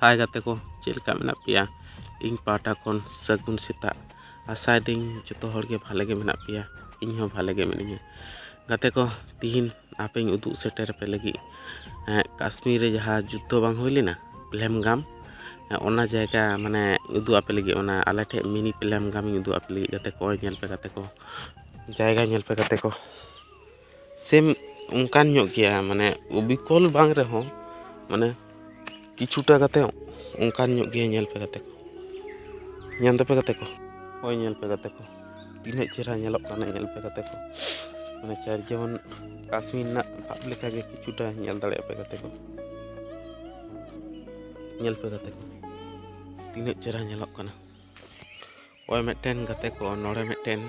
ᱦᱟᱭ ᱜᱟᱛᱮ ᱠᱚ ᱪᱮᱫ ᱞᱮᱠᱟ ᱢᱮᱱᱟᱜ ᱯᱮᱭᱟ ᱤᱧ ᱯᱟᱦᱴᱟ ᱠᱷᱚᱱ ᱥᱟᱹᱜᱩᱱ ᱥᱮᱛᱟᱜ ᱟᱥᱟᱭᱮᱫᱟᱹᱧ ᱡᱚᱛᱚ ᱦᱚᱲᱜᱮ ᱵᱷᱟᱞᱮ ᱜᱮ ᱢᱮᱱᱟᱜ ᱯᱮᱭᱟ ᱤᱧ ᱦᱚᱸ ᱵᱷᱟᱞᱮ ᱜᱮ ᱢᱤᱱᱟᱹᱧᱟ ᱜᱟᱛᱮ ᱠᱚ ᱛᱤᱦᱤᱧ ᱟᱯᱮᱧ ᱩᱫᱩᱜ ᱥᱮᱴᱮᱨ ᱟᱯᱮ ᱞᱟᱹᱜᱤᱫ ᱠᱟᱥᱢᱤᱨ ᱨᱮ ᱡᱟᱦᱟᱸ ᱡᱩᱫᱽᱫᱷᱚ ᱵᱟᱝ ᱦᱩᱭ ᱞᱮᱱᱟ ᱯᱞᱮᱢᱜᱟᱢ ᱚᱱᱟ ᱡᱟᱭᱜᱟ ᱢᱟᱱᱮ ᱩᱫᱩᱜ ᱟᱯᱮ ᱞᱟᱹᱜᱤᱫ ᱚᱱᱟ ᱟᱞᱮ ᱴᱷᱮᱡ ᱢᱤᱱᱤ ᱯᱞᱮᱢᱜᱟᱢᱤᱧ ᱩᱫᱩᱜ ᱟᱯᱮ ᱞᱟᱹᱜᱤᱫ ᱜᱟᱛᱮ ᱠᱚ ᱧᱮᱞ ᱯᱮ ᱜᱟᱛᱮ ᱠᱚ ᱡᱟᱭᱜᱟ ᱧᱮᱞ ᱯᱮ ᱜᱟᱛᱮ ᱠᱚ ᱥᱮᱢ ᱚᱱᱠᱟᱱ ᱧᱚᱜ ᱜᱮᱭᱟ ᱢᱟᱱᱮ ᱚᱵᱤᱠᱚᱞ ᱵᱟᱝ ᱨᱮᱦᱚᱸ ᱢᱟᱱᱮ ᱠᱤᱪᱷᱩᱴᱟ ᱠᱟᱛᱮ ᱚᱱᱠᱟᱱ ᱧᱚᱜ ᱜᱮᱭᱟ ᱧᱮᱞ ᱯᱮ ᱜᱟᱛᱮ ᱠᱚ ᱧᱮᱞ ᱫᱟᱯᱮ ᱜᱟᱛᱮ ᱠᱚ ᱦᱳᱭ ᱧᱮᱞ ᱯᱮ ᱜᱟᱛᱮ ᱠᱚ ᱛᱤᱱᱟᱹᱜ ᱪᱮᱦᱨᱟ ᱧᱮᱞᱚᱜ ᱠᱟᱱᱟ ᱧᱮᱞ ᱯᱮ ᱜᱟᱛᱮ ᱠᱚ ᱢᱟᱱᱮ ᱪᱟᱨ ᱡᱮᱢᱚᱱ ᱠᱟᱥᱢᱤᱨ ᱨᱮᱱᱟᱜ ᱵᱷᱟᱵᱽ ᱞᱮᱠᱟᱜᱮ ᱠᱤᱪᱷᱩᱴᱟ ᱧᱮᱞ ᱫᱟᱲᱮᱭᱟᱜ ᱯᱮ ᱜᱟᱛᱮ ᱠᱚ ᱧᱮᱞ ᱯᱮ ᱜᱟᱛᱮ ᱠᱚ ᱛᱤᱱᱟᱹᱜ ᱪᱮᱦᱨᱟ ᱧᱮᱞᱚᱜ ᱠᱟᱱᱟ ᱚᱠᱚᱭ ᱢᱤᱫᱴᱮᱱ ᱜᱟᱛᱮ ᱠᱚ ᱱᱚᱰᱮ ᱢᱤᱫᱴᱮᱱ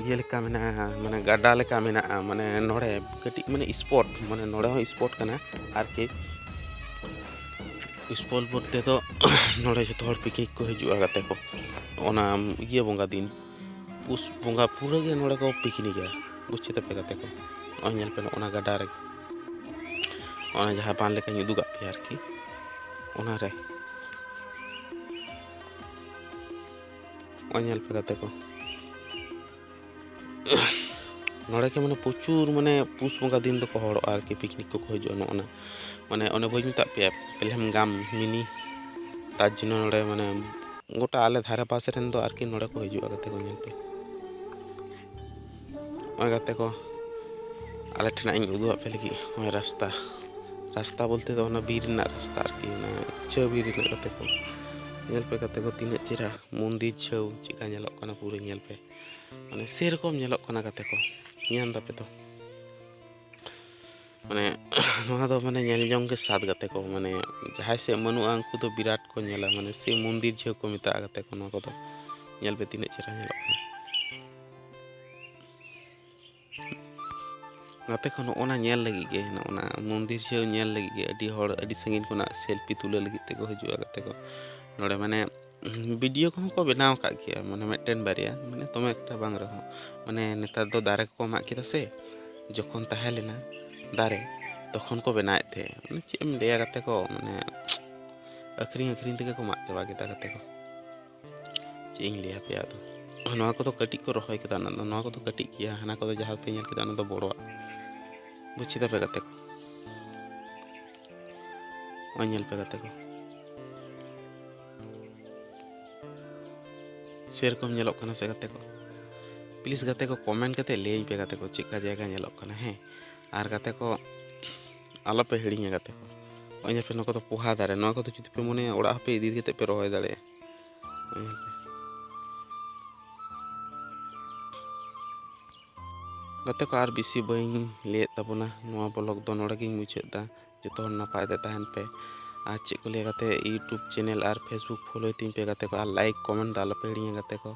ᱤᱭᱟᱹ ᱞᱮᱠᱟ ᱢᱮᱱᱟᱜᱼᱟ ᱢᱟᱱᱮ ᱜᱟᱰᱟ ᱞᱮᱠᱟ ᱢᱮᱱᱟᱜᱼᱟ ᱢᱟᱱᱮ ᱱᱚᱰᱮ ᱠᱟᱹᱴᱤᱡ ᱢᱟᱱᱮ ᱥᱯᱚᱴ ᱢᱟᱱᱮ ᱱᱚᱰᱮ ᱦᱚᱸ ᱥᱯᱚᱴ ᱠᱟᱱᱟ ᱟᱨᱠᱤ ᱥᱯᱚᱴ ᱵᱚᱞᱛᱮ ᱫᱚ ᱱᱚᱰᱮ ᱡᱚᱛᱚ ᱦᱚᱲ ᱯᱤᱠᱱᱤᱠ ᱠᱚ ᱦᱤᱡᱩᱜᱼᱟ ᱜᱟᱛᱮ ᱠᱚ ᱚᱱᱟ ᱤᱭᱟᱹ ᱵᱚᱸᱜᱟ ᱫᱤᱱ ᱯᱩᱥ ᱵᱚᱸᱜᱟ ᱯᱩᱨᱟᱹ ᱜᱮ ᱱᱚᱰᱮ ᱠᱚ ᱯᱤᱠᱱᱤᱠᱟ ᱵᱩᱡᱽ ᱠᱮᱫᱟᱯᱮ ᱜᱟᱛᱮ ᱠᱚ ᱱᱚᱜᱼᱚᱭ ᱧᱮᱞ ᱯᱮ ᱱᱚᱜᱼᱚ ᱱᱟ ᱜᱟᱰᱟ ᱨᱮ ᱚᱱᱟ ᱡᱟᱦᱟᱸ ᱵᱟᱱ ᱞᱮᱠᱟᱧ ᱩᱫᱩᱜᱟᱜ ᱯᱮᱭᱟ ᱟᱨᱠᱤ ᱚᱱᱟᱨᱮ ᱱᱚᱜᱼᱚᱭ ᱧᱮᱞ ᱯᱮ ᱜᱟᱛᱮ ᱠᱚ ᱱᱚᱰᱮ ᱜᱮ ᱢᱟᱱᱮ ᱯᱨᱚᱪᱩᱨ ᱢᱟᱱᱮ ᱯᱩᱥ ᱵᱚᱸᱜᱟ ᱫᱤᱱ ᱫᱚᱠᱚ ᱦᱚᱲᱚᱜᱼᱟ ᱟᱨᱠᱤ ᱯᱤᱠᱱᱤᱠ ᱠᱚᱠᱚ ᱦᱤᱡᱩᱜᱼᱟ ᱱᱚᱜᱼᱚ ᱱᱟ ᱢᱟᱱᱮ ᱚᱱᱮ ᱵᱟᱹᱧ ᱢᱮᱛᱟᱫ ᱯᱮᱭᱟ ᱯᱮᱞᱦᱮᱢ ᱜᱟᱢ ᱢᱤᱱᱤ ᱛᱟᱨ ᱡᱚᱱᱱᱚ ᱱᱚᱰᱮ ᱢᱟᱱᱮ ᱜᱚᱴᱟ ᱟᱞᱮ ᱫᱷᱟᱨᱮ ᱯᱟᱥᱮ ᱨᱮᱱ ᱫᱚ ᱟᱨᱠᱤ ᱱᱚᱰᱮ ᱠᱚ ᱦᱤᱡᱩᱜᱼᱟ ᱜᱟᱛᱮ ᱠᱚ ᱧᱮᱞ ᱛᱮ ᱱᱚᱜᱼᱚᱭ ᱜᱟᱛᱮ ᱠᱚ ᱟᱞᱮ ᱴᱷᱮᱱᱟᱜ ᱤᱧ ᱩᱫᱩᱜ ᱟᱯᱮ ᱞᱟᱹᱜᱤᱫ ᱱᱚᱜᱼᱚᱭ ᱨᱟᱥᱛᱟ ᱨᱟᱥᱛᱟ ᱵᱚᱞᱛᱮ ᱫᱚ ᱚᱱᱟ ᱵᱤᱨ ᱨᱮᱱᱟᱜ ᱨᱟᱥᱛᱟ ᱟᱨᱠᱤ ᱚᱱᱟ ᱪᱷᱟᱹᱣ ᱵᱤᱨ ᱨᱮᱱᱟᱜ ᱜᱟᱛᱮ ᱠᱚ ᱧᱮᱞ ᱯᱮ ᱜᱟᱛᱮ ᱠᱚ ᱛᱤᱱᱟᱹᱜ ᱪᱮᱦᱨᱟ ᱢᱚᱱᱫᱤᱨ ᱪᱷᱟᱹᱣ ᱪᱮᱫᱠᱟ ᱧᱮᱞᱚᱜ ᱠᱟᱱᱟ ᱯᱩᱨᱟᱹ ᱧᱮᱞ ᱯᱮ ᱢᱟᱱᱮ ᱥᱮᱨᱚᱠᱚᱢ ᱧᱮᱞᱚᱜ ᱠᱟᱱᱟ ᱜᱟᱛᱮ ᱠᱚ ᱧᱮᱞ ᱫᱟᱯᱮ ᱛᱚ ᱢᱟᱱᱮ ᱱᱚᱣᱟ ᱫᱚ ᱢᱟᱱᱮ ᱧᱮᱞ ᱡᱚᱝ ᱜᱮ ᱥᱟᱫ ᱜᱟᱛᱮ ᱠᱚ ᱢᱟᱱᱮ ᱡᱟᱦᱟᱸᱭ ᱥᱮᱫ ᱵᱟᱹᱱᱩᱜᱼᱟ ᱩᱱᱠᱩ ᱫᱚ ᱵᱤᱨᱟᱴ ᱠᱚ ᱧᱮᱞᱟ ᱢᱟᱱᱮ ᱥᱮ ᱢᱚᱱᱫᱤᱨ ᱡᱷᱟᱹᱣ ᱠᱚ ᱢᱮᱛᱟᱜᱼᱟ ᱜᱟᱛᱮ ᱠᱚ ᱱᱚᱣᱟ ᱠᱚᱫᱚ ᱧᱮᱞ ᱯᱮ ᱛᱤᱱᱟᱹᱜ ᱪᱮᱦᱨᱟ ᱧᱮᱞᱚᱜ ᱠᱟᱱᱟ ᱜᱟᱛᱮ ᱠᱚ ᱱᱚᱜᱼᱚ ᱱᱟ ᱧᱮᱞ ᱞᱟᱹᱜᱤᱫ ᱜᱮ ᱱᱚᱜᱼᱚ ᱱᱟ ᱢᱚᱱᱫᱤᱨ ᱡᱷᱟᱹᱣ ᱧᱮᱞ ᱞᱟᱹᱜᱤᱫ ᱜᱮ ᱟᱹᱰᱤ ᱦᱚᱲ ᱟᱹᱰᱤ ᱥᱟᱺᱜᱤᱧ ᱠᱷᱚᱱᱟᱜ ᱥᱮᱞᱯᱷᱤ ᱛᱩᱞᱟᱹᱣ ᱞᱟᱹᱜᱤᱫ ᱛᱮᱠᱚ ᱦᱤᱡᱩᱜᱼᱟ ᱜᱟᱛᱮ ᱠᱚ ᱱᱚᱰᱮ ᱢᱟᱱᱮ ᱵᱷᱤᱰᱤᱭᱳ ᱠᱚᱦᱚᱸ ᱠᱚ ᱵᱮᱱᱟᱣ ᱟᱠᱟᱫ ᱜᱮᱭᱟ ᱢᱟᱱᱮ ᱢᱤᱫᱴᱮᱱ ᱵᱟᱨᱭᱟ ᱢᱟᱱᱮ ᱫᱚᱢᱮ ᱮᱠᱴᱟ ᱵᱟᱝ ᱨᱮᱦᱚᱸ ᱢᱟᱱᱮ ᱱᱮᱛᱟᱨ ᱫᱚ ᱫᱟᱨᱮ ᱠᱚᱠᱚ ᱢᱟᱜ ᱠᱮᱫᱟ ᱥᱮ ᱡᱚᱠᱷᱚᱱ ᱛᱟᱦᱮᱸ ᱞᱮᱱᱟ ᱫᱟᱨᱮ ᱛᱚᱠᱷᱚᱱ ᱠᱚ ᱵᱮᱱᱟᱣᱮᱫ ᱛᱟᱦᱮᱸᱫ ᱢᱟᱱᱮ ᱪᱮᱫ ᱮᱢ ᱞᱟᱹᱭᱟ ᱜᱟᱛᱮ ᱠᱚ ᱢᱟᱱᱮ ᱟᱹᱠᱷᱨᱤᱧ ᱟᱹᱠᱷᱨᱤᱧ ᱛᱮᱜᱮ ᱠᱚ ᱢᱟᱜ ᱪᱟᱵᱟ ᱠᱮᱫᱟ ᱜᱟᱛᱮ ᱠᱚ ᱪᱮᱫ ᱤᱧ ᱞᱟᱹᱭᱟ ᱯᱮᱭᱟ ᱟᱫᱚ ᱱᱚᱣᱟ ᱠᱚᱫᱚ ᱠᱟᱹᱴᱤᱡ ᱠᱚ ᱨᱚᱦᱚᱭ ᱠᱮᱫᱟ ᱚᱱᱟ ᱫᱚ ᱱᱚᱣᱟ ᱠᱚᱫᱚ ᱠᱟᱹᱴᱤᱡ ᱜᱮᱭᱟ ᱦᱟᱱᱟ ᱠᱚᱫᱚ ᱡᱟᱦᱟᱸ ᱯᱮ ᱧᱮᱞ ᱠᱮᱫᱟ ᱚᱱᱟ ᱫᱚ ᱵᱚᱲᱚᱣᱟᱜ ᱵᱩᱡ ᱠᱮᱫᱟ ᱯᱮ ᱜᱟᱛᱮ ᱠᱚ ᱱᱚᱜᱼᱚᱭ ᱧᱮᱞ ᱯᱮ ᱜᱟᱛᱮ ᱠᱚ ᱥᱮᱨᱚᱠᱚᱢ ᱧᱮᱞᱚᱜ ᱠᱟᱱᱟ ᱥᱮ ᱜᱟᱛᱮ ᱠᱚ ᱯᱞᱤᱡ ᱜᱟᱛᱮ ᱠᱚ ᱠᱚᱢᱮᱱᱴ ᱠᱟᱛᱮ ᱞᱟᱹᱭᱟᱹᱧ ᱯᱮ ᱜᱟᱛᱮ ᱠᱚ ᱪᱮᱫᱠᱟ ᱡᱟᱭᱜᱟ ᱧᱮᱞᱚᱜ ᱠᱟᱱᱟ ᱦᱮᱸ ᱟᱨ ᱜᱟᱛᱮ ᱠᱚ ᱟᱞᱚᱯᱮ ᱦᱤᱲᱤᱧᱟ ᱜᱟᱛᱮ ᱠᱚ ᱱᱚᱜᱼᱚᱭ ᱧᱮᱞ ᱯᱮ ᱱᱚᱣᱟ ᱠᱚᱫᱚ ᱯᱚᱦᱟ ᱫᱟᱨᱮ ᱱᱚᱣᱟ ᱠᱚᱫᱚ ᱡᱩᱫᱤ ᱯᱮ ᱢᱚᱱᱮᱭᱟ ᱚᱲᱟᱜ ᱦᱚᱸᱯᱮ ᱤᱫᱤ ᱠᱟᱛᱮ ᱯᱮ ᱨᱚᱦᱚᱭ ᱫᱟᱲᱮᱭᱟᱜᱼᱟ ᱜᱟᱛᱮ ᱠᱚ ᱟᱨ ᱵᱮᱥᱤ ᱵᱟᱹᱧ ᱞᱟᱹᱭᱮᱫ ᱛᱟᱵᱚᱱᱟ ᱱᱚᱣᱟ ᱵᱞᱚᱜ ᱫᱚ ᱱᱚᱰᱮ ᱜᱤᱧ ᱢᱩᱪᱟᱹᱫ ᱮᱫᱟ ᱡᱚᱛᱚ ᱦᱚᱲ ᱱᱟᱯᱟᱭ ᱛᱮ ᱛᱟᱦᱮᱱ ᱯᱮ ᱟᱨ ᱪᱮᱫ ᱠᱚ ᱞᱟᱹᱭᱟ ᱜᱟᱛᱮ ᱤᱭᱩᱴᱩᱵᱽ ᱪᱮᱱᱮᱞ ᱟᱨ ᱯᱷᱮᱥᱵᱩᱠ ᱯᱷᱳᱞᱳᱭ ᱛᱤᱧ ᱯᱮ ᱜᱟᱛᱮ ᱠᱚ ᱟᱨ ᱞᱟᱭᱤᱠ ᱠᱚᱢᱮᱱᱴ ᱫᱚ ᱟᱞᱚᱯᱮ ᱦᱤᱲᱤᱧᱟ ᱜᱟᱛᱮ ᱠᱚ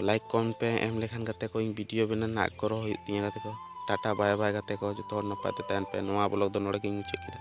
ᱞᱟᱭᱤᱠ ᱠᱚᱢᱮᱱᱴ ᱯᱮ ᱮᱢ ᱞᱮᱠᱷᱟᱱ ᱜᱟᱛᱮ ᱠᱚ ᱤᱧ ᱵᱷᱤᱰᱤᱭᱳ ᱵᱮᱱᱟᱣ ᱨᱮᱱᱟᱜ ᱟᱜᱽᱨᱚᱦᱚ ᱦᱩᱭᱩᱜ ᱛᱤᱧᱟᱹ ᱜᱟᱛᱮ ᱠᱚ ᱴᱟᱴᱟ ᱵᱟᱭ ᱵᱟᱭ ᱜᱟᱛᱮ ᱠᱚ ᱡᱚᱛᱚ ᱦᱚᱲ ᱱᱟᱯᱟᱭ ᱛᱮ ᱛᱟᱦᱮᱱ ᱯᱮ ᱱᱚᱣᱟ ᱵᱞᱚᱜ ᱫᱚ ᱱᱚᱰᱮ ᱜᱤᱧ ᱢᱩᱪᱟᱹᱫ ᱠᱮᱫᱟ